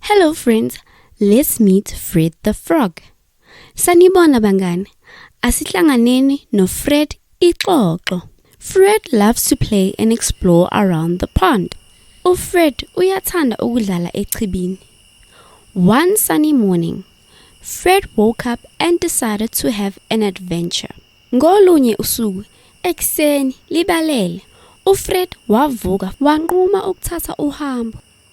Hello friends, let's meet Fred the Frog. Sanibona bangane, asihlanganeni no Fred ixoxo. Fred loves to play and explore around the pond. UFred uyathanda ukudlala echibini. One sunny morning, Fred woke up and decided to have an adventure. Ngolunye usuku ekuseni libalele, uFred wavuka wanquma ukuthatha uhambo.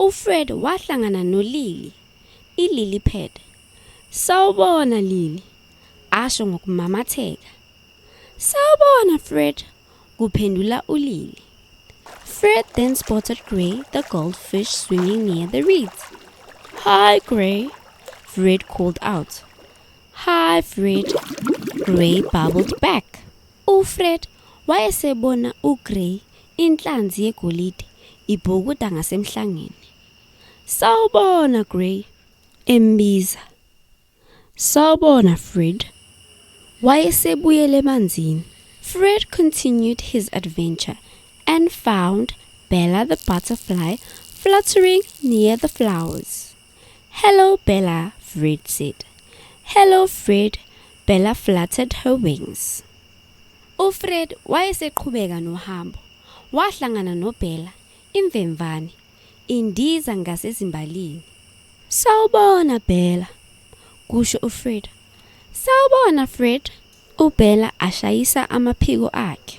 UFred wahlangana noLily, iLily pad. Sawubona Lily, asho ngokumamatheka. Sawubona Fred, kuphendula uLily. Fred then spotted Gray the goldfish swinging near the reeds. Hi Gray, Fred called out. Hi Fred, Gray babbled back. UFred wayesebona uGrey, inhlanzi yegolide, ibhukuda ngasemhlangeni. Sawubona, Grey, embiza. Sawubona, Fred. Wayesebuyele emanzini. Fred continued his adventure and found Bella the butterfly fluttering near the flowers. Hello, Bella, Fred said. Hello, Fred, Bella fluttered her wings. UFred wayeseqhubeka nohambo. Wahlangana noBella, imvemvane, indiza ngasezimbalini. Sawubona, Bella, kusho uFred. Sawubona, Fred, uBella ashayisa amaphiko akhe.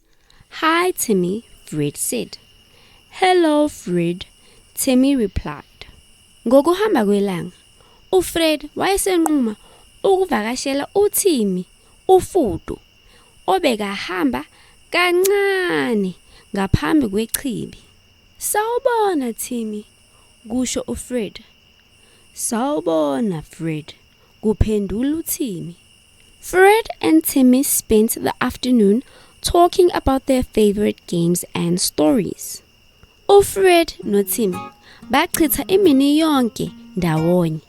Hi Timmy, Fred said. Hello Fred, Timmy replied. Ngokuhamba kwelanga, uFred wayesenquma ukuvakashela uTimmy, uFudu, obekahamba kancane ngaphambi kwechibi. Sawubona Timmy, kusho uFred. Sawubona Fred, kuphendula uTimmy. Fred and Timmy spent the afternoon talking about their favorite games and stories. UFred noTimmy bachitha imini yonke ndawonye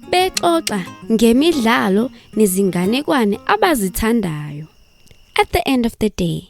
bexoxa ngemidlalo nezinganekwane abazithandayo. At the end of the day,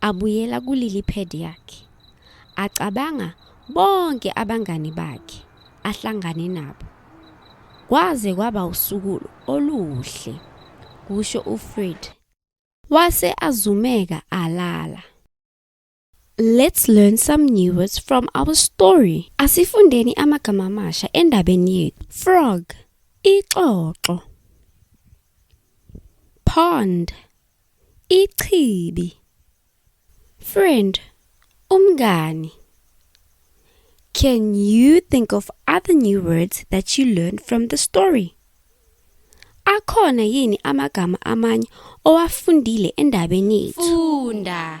Abuyela kulili pad yakhe. Acabanga bonke abangani bakhe ahlangane nabo. Kwaze kwaba usuku oluhle, kusho uFred. Wase azumeka alala. Let's learn some new words from our story. Asifundeni amagama amasha endabeni yethu. Frog, ixoxo. Pond, Ichibi. Friend, umngani. Can you think of other new words that you learned from the story? Akhona yini amagama amanye owafundile endabeni yethu? Funda.